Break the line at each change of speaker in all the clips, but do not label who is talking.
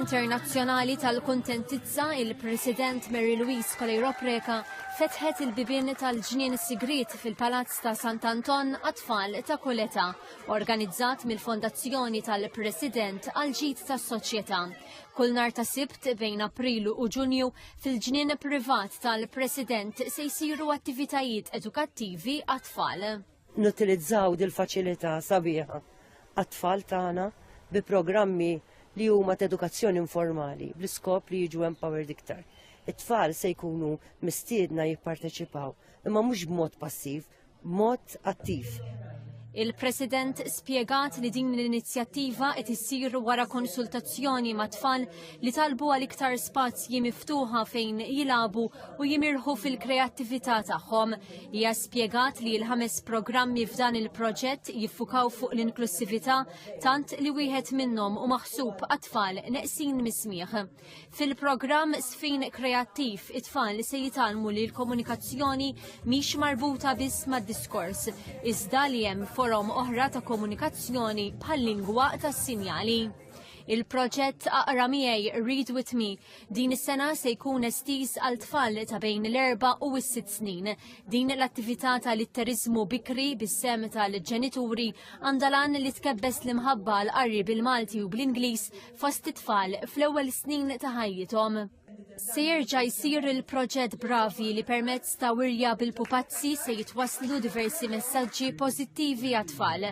Internazzjonali tal-Kuntentizza, il-President Mary Louise Coleiro Preca fetħet il-bibien tal-ġnien sigrit fil-Palazz ta' Sant'Anton għat-tfal ta' Koleta, organizzat mill-Fondazzjoni tal-President għal-ġid tas-Soċjetà. Kull nar ta' Sibt bejn Aprilu u Ġunju, Fil-ġnien privat tal-President se jsiru attivitajiet edukattivi għat-tfal. Nutilizzaw dil-faċilità sabiħa għat-tfal tagħna bi programmi li huma ta' edukazzjoni informali bl-iskop li jiġu empowered iktar. It-tfal se jkunu mistiedna jipparteċipaw imma mhux b'mod passiv, b'mod attiv. Il-President spjegat li din l-inizjattiva qed issir wara konsultazzjoni ma' tfal li talbu għal iktar spazji miftuħa fejn jilagħbu u jimirħu fil-kreattività tagħhom. Hija spjegat li l-ħames programmi f'dan il-proġett jiffukaw fuq l-inklussività tant li wieħed minnhom u maħsub għat-tfal neqsin mismieħ. Fil-programm Sfin Kreattiv, it-tfal li se jitalmu li l-komunikazzjoni mhix marbuta biss mad-diskors, iżda li hemm forom oħra ta' komunikazzjoni bħal lingwa tas-sinjali. Il-proġett Aqra miegħi Read with Me din is-sena se jkun estiż għal tfal ta' bejn l-erba' u s-sitt snin. Din l-attività ta' litterizmu bikri bis-sem tal-ġenituri għandha lan li tkebbes l-imħabba l-qarri bil-Malti u bl-Ingliż fost it-tfal fl-ewwel snin ta' ħajjithom. Se jerġa' jsir il-proġett Bravi li permezz ta' wirja bil-pupazzi se jitwaslu diversi messaġġi pożittivi għat-tfal.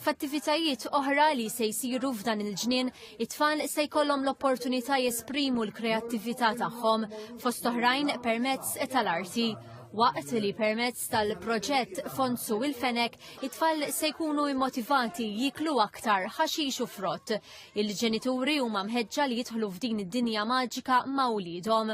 F'attivitajiet oħra li se jsiru f'dan il-ġnien, it-tfal se jkollhom l-opportunità jesprimu l-kreattività tagħhom fost oħrajn permezz tal-arti waqt li permezz tal-proġett Fonsu il-Fenek it-tfal se jkunu immotivati jiklu aktar ħaxix u frott Il-ġenituri huma mħeġġa li jidħlu f'din id-dinja maġika ma' wliedhom.